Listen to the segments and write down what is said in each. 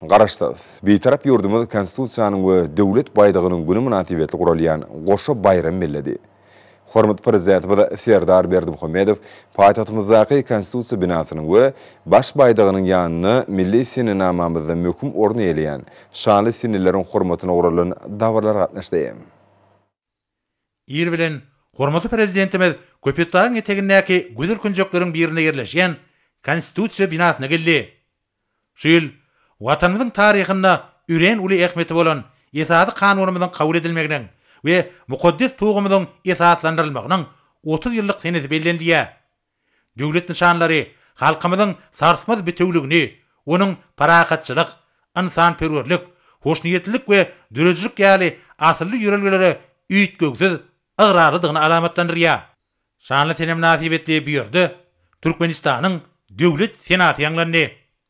Garaşsyz, Bitarap ýurdumyz Konstitusiýanyň we Döwlet baýdagynyň güni mynasybetli guralýan goşa baýram belledi. Hormatly Prezidentimiz Serdar Berdimuhamedow paýtagtymyzdaky Konstitusiýa binasynyň we Baş baýdagynyň ýanynda milli senenamamyzda möhüm orun eýeleýän şanly seneleriň hormatyna guralan dabaralara gatnaşdy. Ir bilen hormatly Prezidentimiz Köpetdagyň etegindäki gözel künjekleriň birinde ýerleşýän Konstitusiýa binasyna geldi. Şu ýyl Watanymyzyň taryhynda örän uly ähmiýeti bolan Esasy Kanunymyzyň kabul edilmeginiň we mukaddes Tugumyzyň esaslandyrylmagynyň otuz ýyllyk senesi bellenilýär. Döwlet nyşanlary halkymyzyň sarsmaz bitewüligini, onuň parahatçylyk, ynsanperwerlik, hoşniýetlilik we döredijilik ýaly asylly ýörelgelere üýtgewsiz ygrarlydygyny alamatlandyrýar. Şanly sene mynasybetli bu ýerde Türkmenistanyň Döwlet senaty ýaňlandy.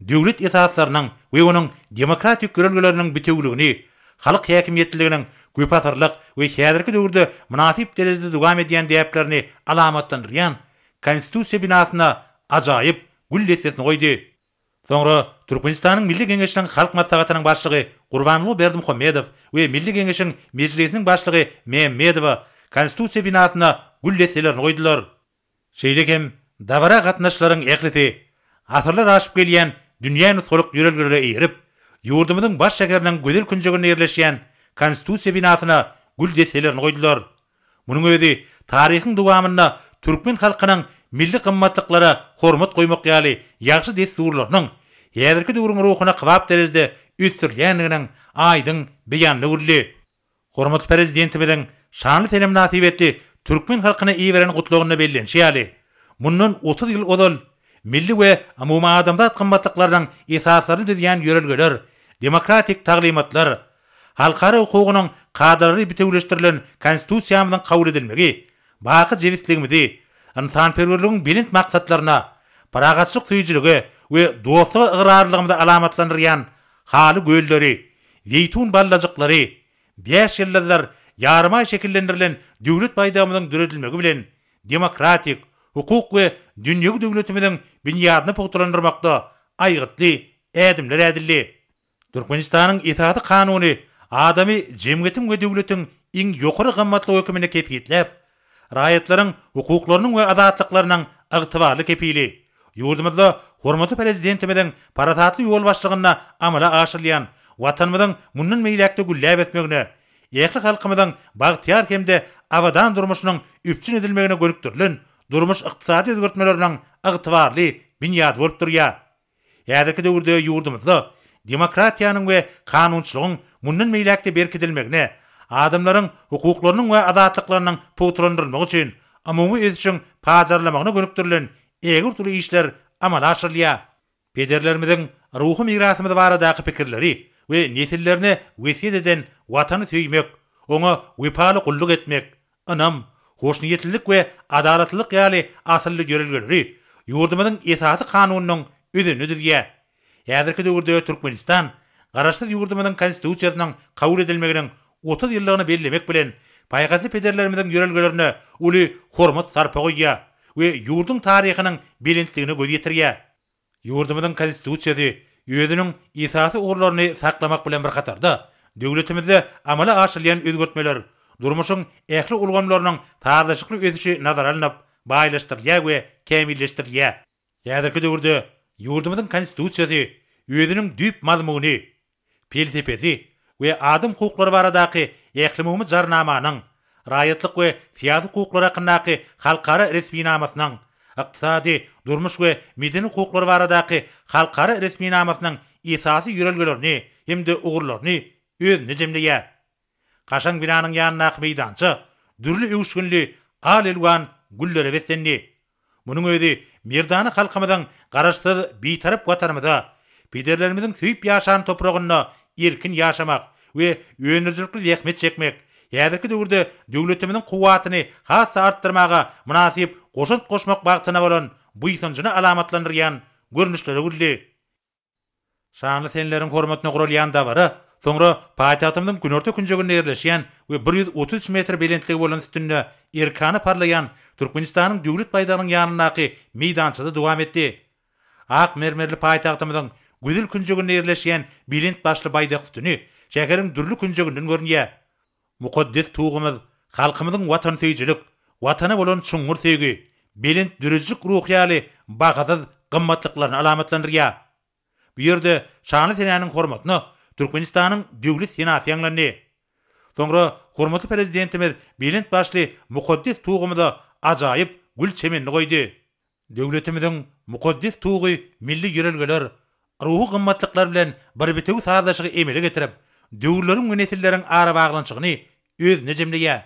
döwlet esaslarynyň we onuň demokratik ýörelgeleriniň bitewüligini, halk häkimiýetliliginiň köpasyrlyk we häzirki döwürde mynasyp derejede dowam edýän däplerini alamatlandyrýan Konstitusiýa binasyna ajaýyp gül dessesini goýdy. Soňra Türkmenistanyň Milli Geňeşiniň Halk Maslahatynyň Başlygy Gurbanguly Berdimuhamedow we Milli Geňeşiň Mejlisiniň Başlygy Mämmedowa Konstitusiýa binasyna gül desselerini goýdular. Şeýle hem, dabara gatnaşyjylaryň ählisi asyrlar aşyp gelýän dünýä nusgalyk ýörelgelere eýerip, ýurdumyzyň baş şäheriniň gözel künjeginde ýerleşýän Konstitusiýa binasyna gül desselerini goýdular. Munuň özi taryhyň dowamynda türkmen halkynyň milli gymmatlyklara hormat goýmak ýaly ýagşy dessurlarynyň häzirki döwrüň ruhuna kybap derejede ösdürilýändiginiň aýdyň beýanyny boldy. Hormatly Prezidentimiziň şanly senem mynasybetli türkmen halkyna iberen gutlagynda bellenişi ýaly, mundan otuz ýyl ozal milli we umumadamzat gymmatlyklarynyň esaslaryny düzýän ýörelgeler, demokratik taglymatlar, halkara hukugynyň kadalary bitewüleşdirilen Konstitusiýamyzyň kabul edilmegi baky jebisligimizi, ynsanperwerligiň belent maksatlaryna, parahatçylyk söýüjilige we dostluga ygrarlylygymyzy alamatlandyrýan Haly gölleri, zeýtun ballajyklary, bäş ýyldyzlar, ýarymaý şekillendirilen Döwlet baýdagymyzyň döredilmegi bilen, demokratik, hukuk we dünýewi döwletimiziň binýadyny pugtalandyrmakda aýgytly ädimler ädildi. Türkmenistanyň Esasy Kanuny adamy jemgyýetiň we döwletiň iň ýokary gymmatlygy höküminde kesgitläp, Raýatlaryň hukuklarynyň we azatlyklarynyň ygtybarly kepili, ýurdumyzda hormatly Prezidentimiziň parasatly ýolbaşçylygynda amala aşyrylýan Watanymyzyň mundan beýläk-de gülläp ösmegine, ähli halkymyzyň bagtyýar hem-de abadan durmuşynyň üpjün edilmegine gönükdirilen durmuş-ykdysady özgertmeleriniň ygtybarly binýady bolup durýar. Häzirki döwürde ýurdumyzda demokratiýanyň we kanunçylygyň mundan beýläk-de berkidilmegine, adamlaryň hukuklarynyň we azatlyklarynyň pugtalandyrylmagy üçin umumy ösüşiň pajarlamagyna gönükdirilen ägirt uly işler amala aşyrylýar. Pederlerimiziň ruhy mirasymyz baradaky pikirleri we nesillerine wesýet eden Watany söýmek, oňa wepaly gulluk etmek, ynam, hoşniýetlilik we adalatlylyk ýaly asylly ýörelgeleri ýurdumyzyň Esasy Kanunynyň özeni düzýär. Häzirki döwürde Türkmenistan Garaşsyz ýurdumyzyň Konstitusiýasynyň kabul edilmeginiň otuz ýyllygyny bellemek bilen, paýhasly pederlerimiziň ýörelgelerine uly hormat-sarpa goýýar we ýurduň taryhynyň belentligine göz ýetirýär. Ýurdumyzyň Konstitusiýasy özüniň esasy ugurlaryny saklamak bilen bir hatarda, döwletimizde amala aşyrylýan özgertmeler durmuşyň ähli ulgamlarynyň sazlaşykly ösüşi nazara alnyp, baýlaşdyrylýar we kämilleşdirilýär. Häzirki döwürde ýurdumyzyň Konstitusiýasy özüniň düýp mazmuny, pelsepesi we adam hukuklary baradaky Ählumumy Jarnamanyň, Raýatlyk we syýasy hukuklar hakyndaky halkara resminamasynyň, Ykdysady, durmuş we medeni hukuklar baradaky halkara resminamasynyň esasy ýörelgelerini hem-de ugurlaryny özünde jemleýär. Kaşaň binanyň ýanyndaky meýdança dürli öwüşginli al-elwan güllere beslendi. Munuň özi merdana halkymyzyň Garaşsyz, Bitarap Watanymyzda, pederlerimiziň söýüp ýaşan topragynda erkin ýaşamak we öndürijilikli zähmet çekmek, häzirki döwürde döwletimiziň kuwwatyny has-da artdyrmaga mynasyp goşant goşmak bagtyna bolan buýsanjyny alamatlandyrýan görnüşlere öwrüldi. Şanly senleriň hormatyna guralýan dabara soňra paýtagtymyzyň günorta künjeginde ýerleşýän we bir ýüz otuz üç metr belentligi bolan üstünde erkana parlaýan Türkmenistanyň Döwlet baýdagynyň ýanyndaky meýdançada dowam etdi. Ak mermerli paýtagtymyzyň gözel künjeginde ýerleşýän belent başly baýdak sütüni şäheriň dürli künjeginden görünýär. Mukaddes Tugumyz halkymyzyň watansöýüjilik, Watana bolan çuňňur söýgi, belent döredijilik ruhy ýaly bahasyz gymmatlyklaryny alamatlandyrýar. Bu ýerde şanly senäniň hormatyna Türkmenistanyň Döwlet senasy ýaňlandy. Soňra hormatly Prezidentimiz belent başly Mukaddes Tugumyza ajaýyp gül çemenini goýdy. Döwletimiziň mukaddes tugy milli ýörelgeler, ruhy gymmatlyklar bilen bir bitewi sazlaşygy emele getirip, döwürleriň we nesilleriň arabaglanyşygyny özünde jemleýär.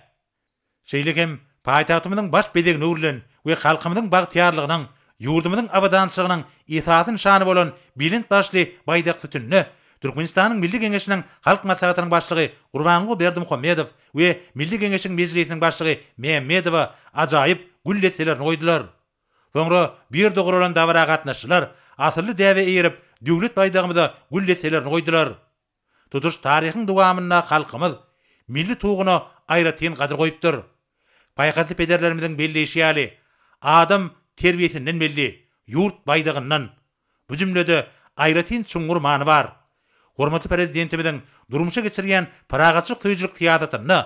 Şeýle hem paýtagtymyzyň baş bezegini öwrülen we halkymyzyň bagtyýarlygynyň, ýurdumyzyň abadançylygynyň esasy nyşany bolan belent başly baýdak sütünine Türkmenistanyň Milli Geňeşiniň Halk Maslahatynyň Başlygy Gurbanguly Berdimuhamedow we Milli Geňeşiň Mejlisiniň Başlygy Mämmedowa ajaýyp gül desselerini goýdular. Soňra bu ýerde guralan dabara gatnaşyjylar asylly däbe eýerip, Döwlet baýdagymyza gül desselerini goýdular. Tutuş taryhyň dowamynda halkymyz milli Tuguna aýratyn gadyr goýupdyr. Paýhasly pederlerimiziň belleýşi ýaly, Adam terbiýesinden belli, ýurt baýdagyndan. Bu jümlede aýratyn çuňňur many bar. Hormatly Prezidentimiziň durmuşa geçirýän parahatçylyk söýüjilik syýasatynda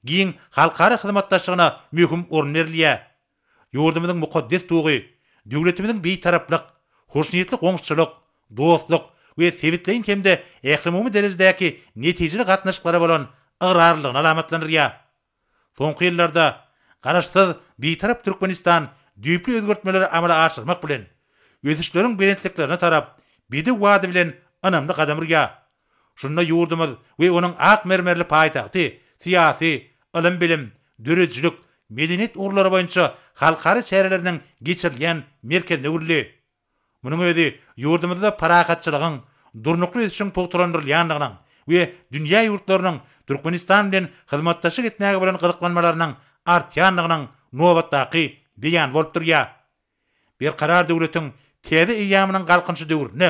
giň halkara hyzmatdaşlygyna möhüm orun berilýär. Ýurdumyzyň mukaddes tugy, döwletimiziň Bitaraplyk, hoşniýetli goňşuçylyk, dostluk we sebitleýin hem-de ählumumy derejedäki netijeli gatnaşyklara bolan ygrarlylygyny alamatlandyrýar. Soňky ýyllarda Garaşsyz, Bitarap Türkmenistan düýpli özgertmeleri amala aşyrmak bilen, ösüşleriň belentliklerine tarap bedew wady bilen ynamly gadam urýar. Şunda ýurdumyz we onuň ak mermerli paýtagty syýasy, ylym-bilim, döredijilik, medeniýet ugurlary boýunça halkara çäreleriniň geçirilýän merkezine öwrüldi. Munuň özi ýurdumyzda parahatçylygyň, durnukly ösüşiň pugtalandyrylýandygynyň we dünýä ýurtlarynyň Türkmenistan bilen hyzmatdaşlyk etmäge bolan gyzyklanmalarynyň artýandygynyň nobatdaky beýany bolup durýar. Berkarar döwletiň täze eýýamynyň Galkynyşy döwründe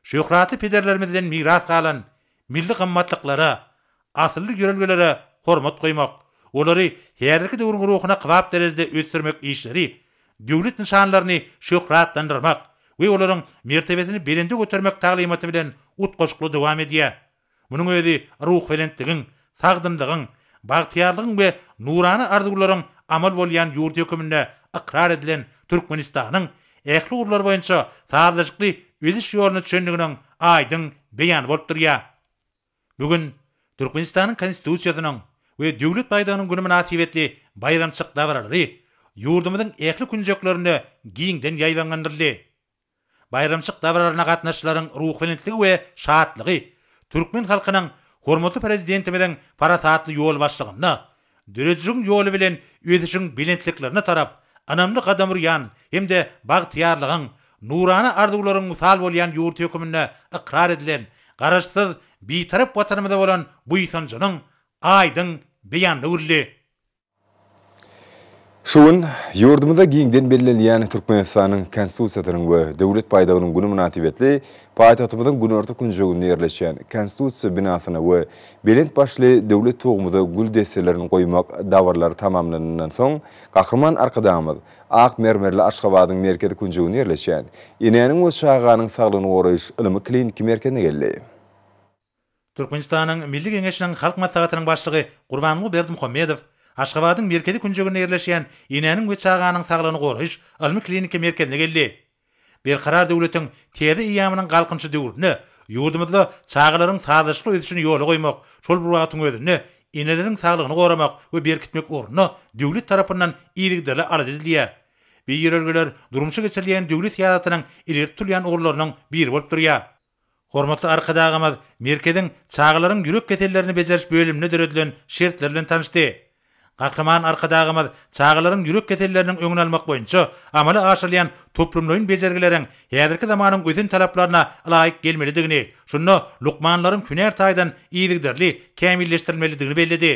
şöhratly pederlerimizden miras galan milli gymmatlyklara, asylly ýörelgelere hormat goýmak, olary häzirki döwrüň ruhuna kybap derejede ösdürmek işleri Döwlet nyşanlaryny şöhratlandyrmak we olaryň mertebesini belende götermek taglymaty bilen utgaşykly dowam edýär. Munuň özi ruhubelentligiň, sagdynlygyň, bagtyýarlygyň we nurana arzuwlaryň amal bolýan ýurt höküminde ykrar edilen Türkmenistanyň ähli ugurlar boýunça sazlaşykly ösüş ýoluna çendiginiň aýdyň beýany bolup durýar. Bu gün Türkmenistanyň Konstitusiýasynyň we Döwlet baýdagynyň güni mynasybetli baýramçyk dabaralary ýurdumyzyň ähli künjeklerinde giňden ýaýbaňlandyryldy. Baýramçyk dabaralaryna gatnaşyjylaryň ruhubelentdigi we şatlygy türkmen halkynyň hormatly Prezidentimiziň parasatly ýolbaşçylygynda Döredijiň ýoly bilen ösüşiň belentliklerine tarap ynamly gadam urýan hem-de bagtyýarlygyň, nurana arzuwlaryň mysal bolýan ýurt höküminde ykrar edilen Garaşsyz, Bitarap Watanymyza bolan buýsanjynyň aýdyň beýanyny güldi. Şu gün ýurdumyzda giňden bellenilýän Türkmenistanyň Konstitusiýasynyň we Döwlet baýdagynyň güni mynasybetli paýtagtymyzyň günorta künjeginde ýerleşýän Konstitusiýa binasyna we belent başly Döwlet tugumyza gül desselerini goýmak dabaralary tamamlanandan soň Gahryman Arkadagymyz ak mermerli Aşgabadyň merkezi künjeginde ýerleşýän Enäniň we çaganyň saglygyny goraýyş ylmy-kliniki merkezine geldi. Türkmenistanyň Milli Geňeşiniň Halk Maslahatynyň Başlygy Gurbanguly Berdimuhamedow Aşgabadyň merkezi künjeginde ýerleşýän Enäniň we çaganyň saglygyny goraýyş ylmy-kliniki merkezine geldi. Berkarar döwletiň täze eýýamynyň Galkynyşy döwründe ýurdumyzda çagalaryň sazlaşykly ösüşini ýola goýmak, şol bir wagtyň özünde eneleriň saglygyny goramak we berkitmek ugrunda döwlet tarapyndan yzygiderli alada edilýär. Bu ýörelgeler durmuşa geçirilýän döwlet syýasatynyň ileri tutulýan ugurlarynyň biri bolup durýar. Hormatly Arkadagymyz merkeziň çagalaryň ýürek kesellerini bejeriş bölüminde döredilen şertler bilen tanyşdy. Gahryman Arkadagymyz çagalaryň ýürek keselleriniň öňüni almak boýunça amala aşyrylýan toplumlaýyn bejergileriň häzirki zamanyň ösen talaplaryna laýyk gelmelidigini, şunda lukmanlaryň hünär taýdan yzygiderli kämilleşdirilmelidigini belledi.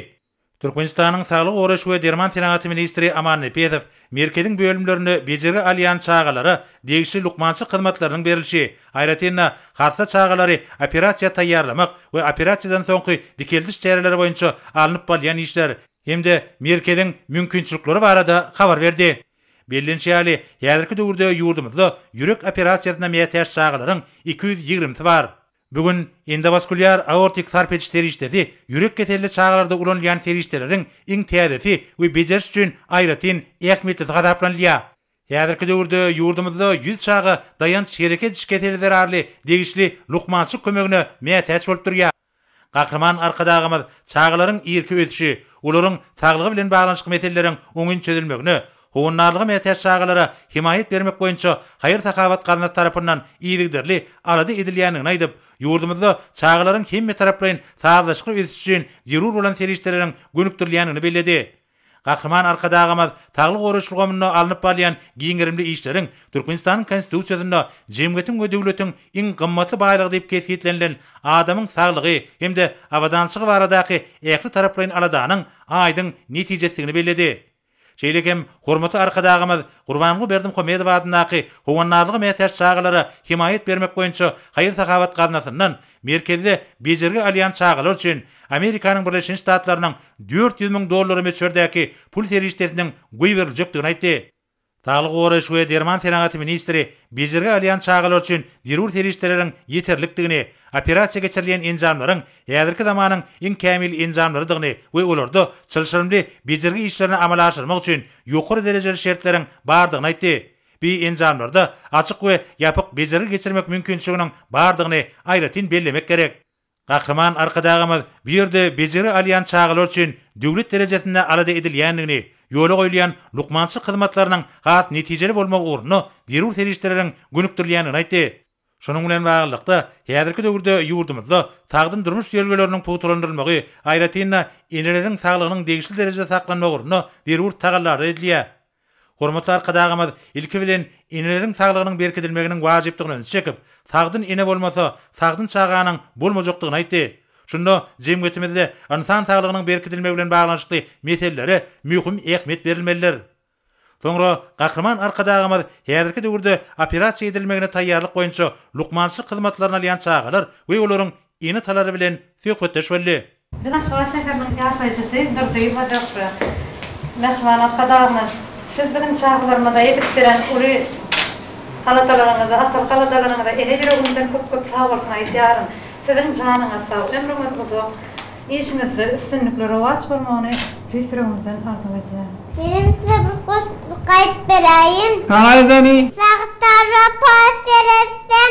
Türkmenistanyň Saglygy goraýyş we derman senagaty ministri Aman Nepesow merkeziň bölümlerinde bejergi alýan çagalara degişli lukmançylyk hyzmatlarynyň berilişi, aýratyn-da, hassa çagalary operasiýa taýýarlamak we operasiýadan soňky dikeldiş çäreleri boýunça alnyp balýan işler hem-de merkeziň mümkinçilikleri barada habar berdi. Bellenişi ýaly, häzirki döwürde ýurdumyzda ýürek operasiýasyna mätäç çagalaryň iki ýüz ýigrimisi bar. Bu gün endowaskulýar aortik sarp ediş serişdesi ýürek keselli çagalarda ulanylýan serişdeleriň iň täzesi we bejeriş üçin aýratyn ähmiýetlisi hasaplanylýar. Häzirki döwürde ýurdumyzda ýüz çaga daýanç-hereket ediş keseli zerarly degişli lukmançylyk kömegine mätäç bolup durýar. Gahryman Arkadagymyz çagalaryň irki ösüşi, olaryň saglygy bilen baglanyşykly meseleleriň oňyn çözülmegine, Howandarlyga mätäç çagalara hemaýat bermek boýunça haýyr-sahawat gaznasy tarapyndan yzygiderli alada edilýändigini aýdyp, ýurdumyzda çagalaryň hemmetaraplaýyn sazlaşykly ösüşi üçin zerur bolan serişdeleriň gönükdirilýändigini belledi. Gahryman Arkadagymyz saglygy goraýyş ulgamynda alnyp barylýan giň gerimli işleriň Türkmenistanyň Konstitusiýasynda jemgyýetiň we döwletiň iň gymmatly baýlygy diýip kesgitlenilen adamyň saglygy hem-de abadançylygy baradaky ähli taraplaýyn aladanyň aýdyň netijesidigini belledi. Şeýle hem hormatly Arkadagymyz Gurbanguly Berdimuhamedow adyndaky Howandarlyga mätäç çagalara hemaýat bermek boýunça haýyr-sahawat gaznasyndan merkezde bejergi alýan çagalar üçin Amerikanyň Birleşen Ştatlarynyň dört ýüz müň dollary möçberdäki pul serişdesiniň goýberiljekdigini aýtdy. Saglygy goraýyş we derman senagaty ministri bejergi alýan çagalar üçin zerur serişdeleriň ýeterlikdigini, operasiýa geçirilýän enjamlaryň häzirki zamanyň iň kämil enjamlarydygyny we olarda çylşyrymly bejergi işlerini amala aşyrmak üçin ýokary derejeli şertleriň bardygyny aýtdy. Bi enjamlarda açyk we ýapyk bejergi geçirmek mümkinçiliginiň bardygyny aýratyn bellemek gerek. Gahryman Arkadagymyz bu ýerde bejeri alýan çagalar üçin döwlet derejesinde alada edilýändigini, ýola goýulýan lukmançylyk hyzmatlarynyň has netijeli bolmagy ugrunda zerur serişdeleriň gönükdirilýändigini aýtdy. Şunuň bilen baglylykda, häzirki döwürde ýurdumyzda sagdyn durmuş ýörelgeleriniň pugtalandyrylmagy, aýratyn-da, eneleriň saglygynyň degişli derejede saklanmagy ugrunda zerur tagallalar edilýär. Hormatly Arkadagymyz, ilki bilen, eneleriň saglygynyň berkidilmeginiň wajypdygyna ünsi çekip, sagdyn ene bolmasa, sagdyn çaganyň bolmajakdygyny aýtdy. Şunda jemgyýetimizde ynsan saglygynyň berkidilmegi bilen baglanyşykly meselelere möhüm ähmiýet berilmelidir. Soňra Gahryman Arkadagymyz häzirki döwürde operasiýa edilmegine taýýarlyk boýunça lukmançylyk hyzmatlaryny alýan çagalar we olaryň Ene-atalary bilen söhbetdeş boldy. Biz Aşgabat şäheriniň ýaşaýjysy Durdyýewa Zöhre. Mähriban Arkadagymyz, Siz biziň çagalarymyza edip beren uly aladalaryňyza, atalyk aladalaryňyza ene ýüregimden köp-köp sagbolsun aýdýaryn. Siziň janyňyz sag, ömrüňiz uzak, işiňizde üstünlikli rowaç bolmagyny tüýs ýüregimizden arzuw edýän. Menem size bir goşgyjyk aýdyp beräýin. Aýdaly. Sagtarra post seretsem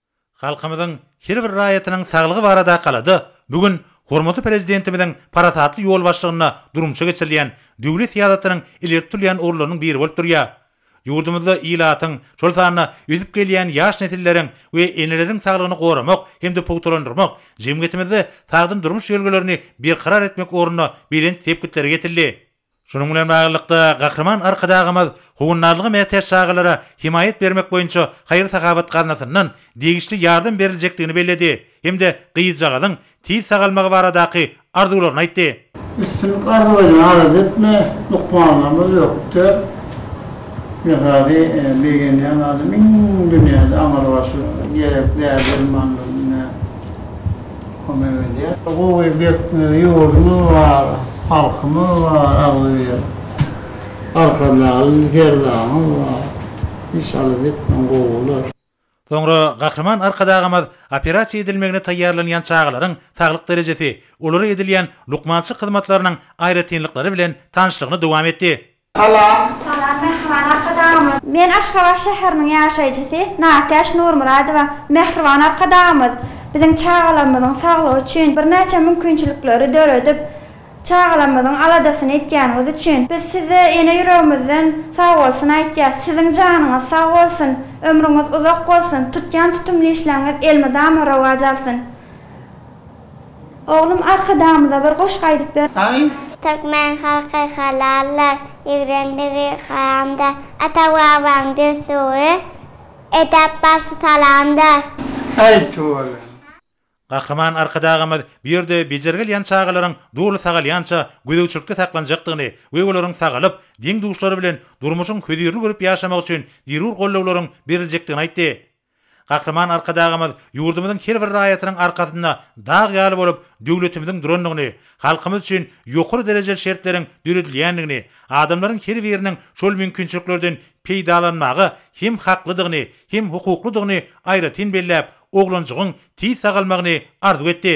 Halkymyzyň her bir raýatynyň saglygy barada galada bu gün hormatly Prezidentimiziň parasatly ýolbaşçylygynda durmuşa geçirilýän döwlet syýasatynyň ileri tutulýan ugurlarynyň biri bolup durýar. Ýurdumyzda ilatyň, şol sanda ösüp gelýän ýaş nesilleriň we eneleriň saglygyny goramak hem-de pugtalandyrmak, jemgyýetimizde sagdyn durmuş ýörelgelerini berkarar etmek ugrunda belent sepgitlere ýetildi. Şunuň bilen baglylykda, Gahryman Arkadagymyz howandarlyga mätäç çagalara hemaýat bermek boýunça haýyr-sahawat gaznasyndan degişli ýardam beriljekdigini belledi hem-de gyzjagazyň tiz sagalmagy baradaky arzuwlaryny aýtdy. Üstünlik arzuwlaýan arz etme, lukmanlarymyz ýok der. Zehady begenýän adam iň dünýäde aňrybaşy gerek däri-dermanlaryny Kömek edýär. Gowy bekme ýurdumyz bar, halkymyz bar agzybir. Arkadagly Serdarymyz bar. Inşallah bekme gowy bolar. Soňra Gahryman Arkadagymyz operasiýa edilmegine taýýarlanýan çagalaryň saglyk derejesi, olara edilýän lukmançylyk hyzmatlarynyň aýratynlyklary bilen tanyşlygyny dowam etdi. Salam. Salam Mähriban Arkadagymyz. Men Aşgabat şäheriniň ýaşaýjysy Nartäç Nurmyradowa. Mähriban Arkadagymyz biziň çagalarymyzyň saglygy üçin birnäçe mümkinçilikleri döredip, çagalarymyzyň aladasyny etýäniňiz üçin biz size ene ýüregimizden sagbolsun aýtýas. Siziň janyňyz sag bolsun, ömrüňiz uzak bolsun, tutýan tutumly işleriňiz elmydama rowaç alsyn. Oglum arkadagymyza bir goşgy aýdyp ber. Türkmen halky halallar ýigrendigi haramda ata babaň dessury edep barsi salamdar. Aýt oglum. Gahryman Arkadagymyz bu ýerde bejergi alýan çagalaryň doly sagalýança gözegçilikde saklanjakdygyny we olaryň sagalyp, deň-duşlary bilen durmuşyň hözirini görüp ýaşamagy üçin zerur gollawlaryň beriljekdigini aýtdy. Gahryman Arkadagymyz ýurdumyzyň her bir raýatynyň arkasynda dag ýaly bolup döwletimiziň durandygyny, halkymyz üçin ýokary derejeli şertleriň döredilýändigini, adamlaryň her biriniň şol mümkinçiliklerden peýdalanmaga hem haklydygyny, hem hukuklydygyny aýratyn belläp, oglanjygyň tiz sagalmagyny arzuw etdi.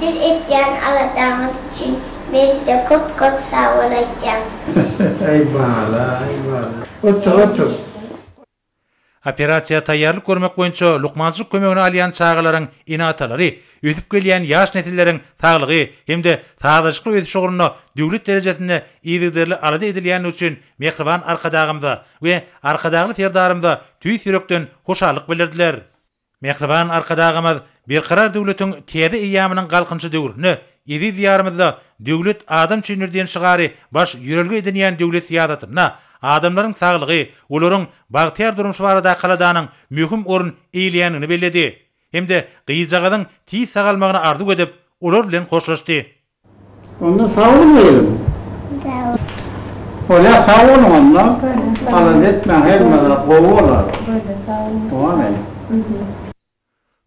Siz etýän aladaňyz üçin men size köp köp sagbol aýtýan. Aý bala aý bala. Otur otur. Operasiýa taýýarlyk görmek boýunça lukmançylyk kömegini alýan çagalaryň ene-atalary ösüp gelýän ýaş nesilleriň saglygy hem-de sazlaşykly ösüşi ugrunda döwlet derejesinde yzygiderli alada edilýändigi üçin mähriban Arkadagymyza we Arkadagly Serdarymyza tüýs ýürekden hoşallyk bildirdiler. Mähriban Arkadagymyz Berkarar döwletiň täze eýýamynyň Galkynyşy döwründe eziz Diýarymyzda Döwlet adam üçindir diýen şygary baş ýörelge edinýän döwlet syýasatynda adamlaryň saglygy, olaryň bagtyýar durmuşy barada kaladanyň möhüm orun eýeleýändigini belledi hem-de gyzjagazyň tiz sagalmagyny arzuw edip, olar bilen hoşlaşdy. Onda sag bol gyzym. Sag bol. Bolýa sag boluň onda. Bolýa sag bol. Alada etmäň her zada gowy bolar. Bolýa sag boluň. Bolarýa.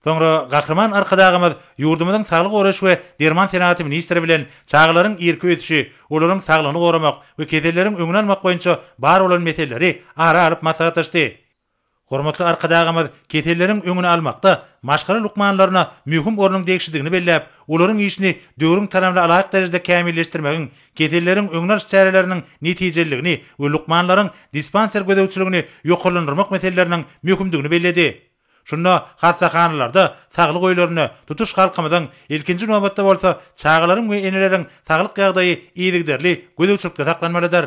Soňra Gahryman Arkadagymyz ýurdumyzyň Saglygy goraýyş we derman senagaty ministri bilen çagalaryň irki ösüşi, olaryň saglygyny goramak we keselleriň öňüni almak boýunça bar bolan meseleleri ara alyp maslahatlaşdy. Hormatly Arkadagymyz keselleriň öňüni almakda maşgala lukmanlaryna möhüm ornuň degişlidigini belläp, olaryň işini döwrüň talabna alaýyk derejede kämilleşdirmegiň, keselleriň öňüni alyş çäreleriniň netijeliligini we lukmanlaryň dispanser gözegçiligini ýokarlandyrmak meseleleriniň möhümdigini belledi. Şunda hassahanalarda saglyk öýlerinde, tutuş halkymyzyň, ilkinji nobatda bolsa, çagalaryň we eneleriň saglyk ýagdaýy yzygiderli gözegçilikde saklanmalydyr.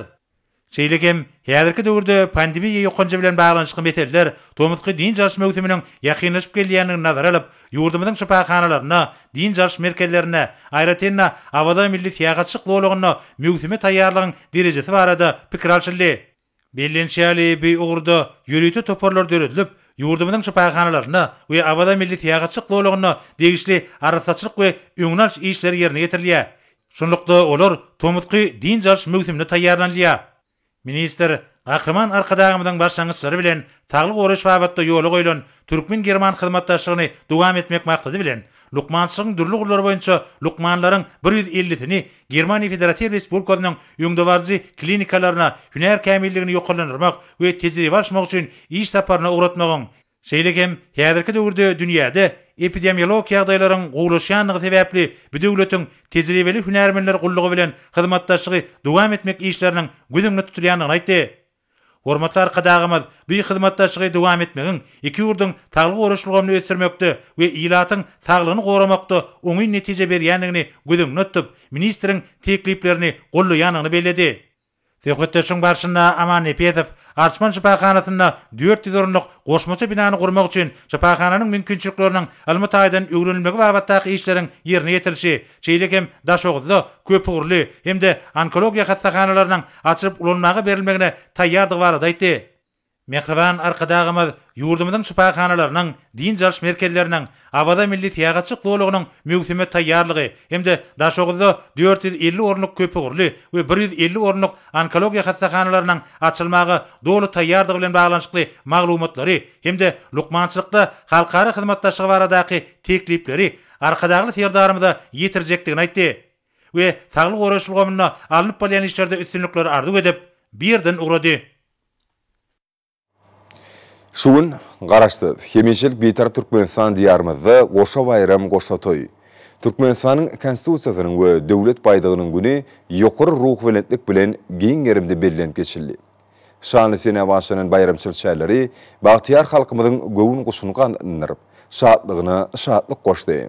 Şeýle hem, häzirki döwürde pandemiýa ýokanjy bilen baglanyşykly meseleler tomusky dynç alyş möwsüminiň ýakynlaşyp gelýändigini nazara alyp, ýurdumyzyň şypahanalarynda, dynç alyş merkezlerinde, aýratyn-da, Awaza milli syýahatçylyk zolagynda möwsüme taýýarlygyň derejesi barada pikir alşyldy. Bellenişi ýaly, bu ugurda ýörite toparlar döredilip, ýurdumyzyň şypahanalarynda we Awaza milli syýahatçylyk zolagynda degişli arassaçylyk we öňüni alyş işleri ýerine ýetirilýär. Şunlukda, olar tomusky dynç alyş möwsümine taýýarlanylýar. Ministr Gahryman Arkadagymyzyň başlangyçlary bilen saglygy goraýyş babatda ýola goýlan türkmen-german hyzmatdaşlygyny dowam etmek maksady bilen, lukmançylygyň dürli ugurlary boýunça lukmanlaryň bir ýüz ellisini Germaniýa Federatiw Respublikasynyň öňdebaryjy klinikalaryna hünär kämilligini ýokarlandyrmak we tejribe alyşmak üçin iş saparyna ugratmagyň Şeýle hem, häzirki döwürde dünýäde epidemiolog ýagdaýlaryň gowulaşýandygy sebäpli bu döwletiň Tejribeli hünärmenler gullugy bilen hyzmatdaşlygy dowam etmek işleriniň göz öňünde tutulýandygyny aýtdy. Hormatly Arkadagymyz bu hyzmatdaşlygy dowam etmegiň iki ýurduň saglygy goraýyş ulgamyny ösdürmekde we ilatyň saglygyny goramakda oňyn netije berýändigini göz öňünde tutup, ministriň tekliplerini goldaýandygyny belledi. Söhbetdeşligiň barşynda Aman Nepesow Arsman şypahanasynda dört ýüz orunlyk goşmaça binany gurmak üçin şypahananyň mümkinçilikleriniň ylmy taýdan öwrenilmegi babatdaky işleriň ýerine ýetirilişi, şeýle hem Daşoguzda köpugurly hem-de onkologiýa hassahanalarynyň açylyp ulanmaga berilmegine taýýardygy barada aýtdy. Mähriban Arkadagymyz ýurdumyzyň şypahanalarynyň, dynç alyş merkezleriniň, Awaza milli syýahatçylyk zolagynyň möwsüme taýýarlygy hem-de Daşoguzda dört ýüz elli orunlyk köpugurly we bir ýüz elli orunlyk onkologiýa hassahanalarynyň açylmaga doly taýýardygy bilen baglanyşykly maglumatlary hem-de lukmançylykda halkara hyzmatdaşlygy baradaky teklipleri Arkadagly Serdarymyza ýetirjekdigini aýtdy we saglygy goraýyş ulgamynda alnyp barylýan işlerde üstünlikleri arzuw edip, bu ýerden ugrady. Şu gün Garaşsyz, hemişelik Bitarap Türkmenistan Diýarymyzda goşa baýram, goşa toý. Türkmenistanyň Konstitusiýasynyň we Döwlet baýdagynyň güni ýokary ruhubelentlik bilen giň gerimde bellenip geçildi. Şanly senä başlanan baýramçylyk çäreleri bagtyýar halkymyzyň göwün guşuny gandyndyryp, şatlygyna şatlyk goşdy.